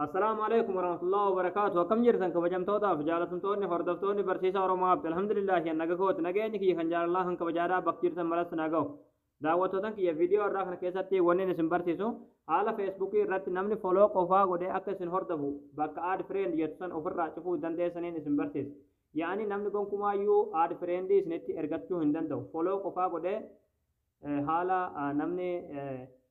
Assalaamu alaikum warahmatullahi wabarakaatu akkam jirtan kabajamtootaaf jaalatamtoonni hordoftoonni barsiisa Oromoo Abdi alhamdulillahi an naga kooti nageenyi kiyya kan jaalalaa kan kabajaadhaa bakka jirtan maratti na ga'u daawwattootan kiyya viidiyoo irraa kana keessatti wannin isin barsiisu haala feesbuukii irratti namni foloo qofaa godhee akka isin hordofu bakka aad fireend jettu san ofirraa cufuu dandeessaniin isin barsiisa yaa'anii namni gonkumaayyuu aad fireendii isinitti ergachuu hin danda'u foloo qofaa godhee haala namni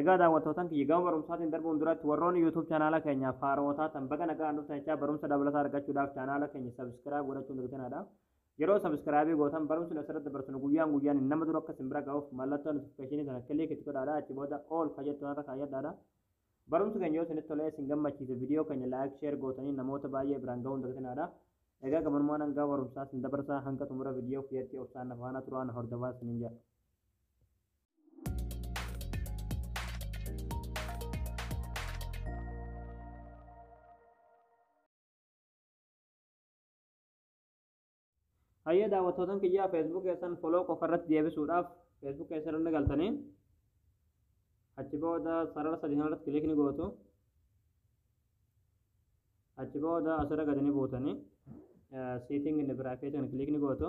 Egaa daawwattootaan kiyya gama barumsaatiin darbuun duratti warroonni YouTube chaanaala keenyaaf haarawa taatan baga nagaan dhuftan jechaa barumsa dabalataa argachuudhaaf chaanaala keenya sabiskiraayib godhachuun dagtinaadha. Yeroo sabiskiraayibii gootan barumsni asirratti dabarsinu guyyaan guyyaan nama dura akka isin bira ga'uuf mallattoo notifikashinii sana kiliik itti godhaadha achi booda ool ka jettu irra kaayyadhaadha. Barumsi keenya yoo isinitti tolee isin gammachiise viidiyoo keenya laayik sheer gootanii namoota baay'ee biraan ga'uun dagtinaadha. Egaa gamanumaan hangaa barumsaa isin dabarsaa hanga xumura viidiyoo kiyyatti obsaan na faana turaan hordofaa isiniin jedha. Hayyee daawwattootan kiyyaa Facebook keessan foloo qofa irratti deebisuudhaaf Facebook keessa irra ni galtanii achi booda sarara sadii kana irratti kilik ni gootu achi booda asirra gadi ni buutanii seeting in the bracket kan kilik ni gootu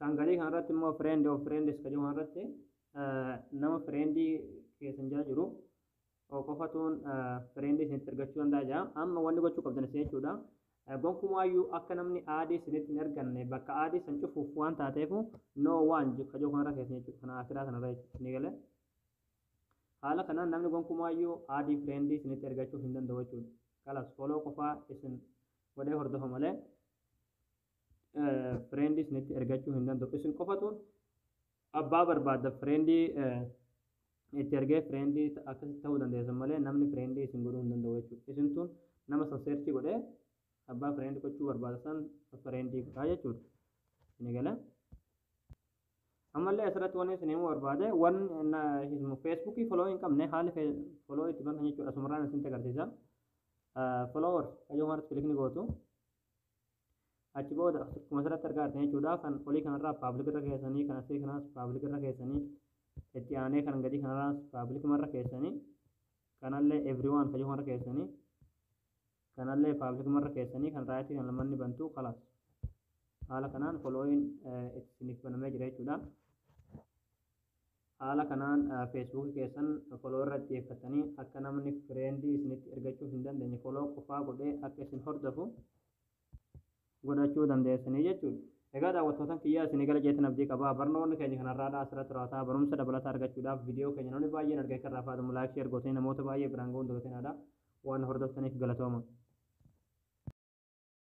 Kan gadii kana irratti immoo friend of friends ka jiru kana irratti nama friendii keessan jala jiru qofatuun friendii isinitti argachuu danda'a jira. Amma wanni gochuu qabdan isin jechuudha. Gonkumaayyuu akka namni aadii isinitti hin arganne bakka aadii san cufuuf waan taateefu no waan ka jiru kanarra keessan jechuudha. Kana akiraa kanarra jechuudha. Ni galee. Haala kanaan namni gonkumaayyuu aadii friendii isinitti argachuu hin danda'u jechuudha. Kalas foloo qofaa isin godhee hordofa malee Fireendi isinitti ergachuu hin danda'u. Isin qofatu abbaa barbaadda fireendi itti ergee fireendi akkasitti ta'uu dandeessan malee namni fireendi isin godhuu hin danda'u jechuudha. Isintu nama san seerchii godhee abbaa fireendi gochuu barbaada san fireendi godhaa jechuudha. Isin eegala. Ammallee asirratti wanni isin himuu barbaade waan feesbuukii foloo hin qabne haala foloo itti bantan jechuudha. Asumarraan isinitti agarsiisa. Followers kayyoo kanarratti kilikni gootu. achi booda akkuma asirratti argaa jirtan jechuudha kan olii kanarraa paablik irra keessanii kan asii kanaas paablik irra keessanii itti aanee kan gadii kanarraas paablik irra keessanii kanallee everyone kan jedhu irra keessanii kanallee paablik irra keessanii kan raayitii kan lamanni bantu kalaas haala kanaan following isiniif banamee jira jechuudha. Haala kanaan Facebook keessan follow irra xiyyeeffattanii akka namni friend isinitti ergachuu hin dandeenye follow qofaa godhee akka isin hordofu godhachuu dandeessanii jechuudha. Egaa daawwattootan kiyyaa isinii gala jeetan abdii qaba. Barnoonni keenya kanarraadha asirratti raawwata. Barumsa dabalataa argachuudhaaf viidiyoo keenya namni baay'een argee kan raafaatamu laayik sheer gootanii namoota baay'ee biraan ga'uun dagatinaadha. Waan hordoftaniif galatooma.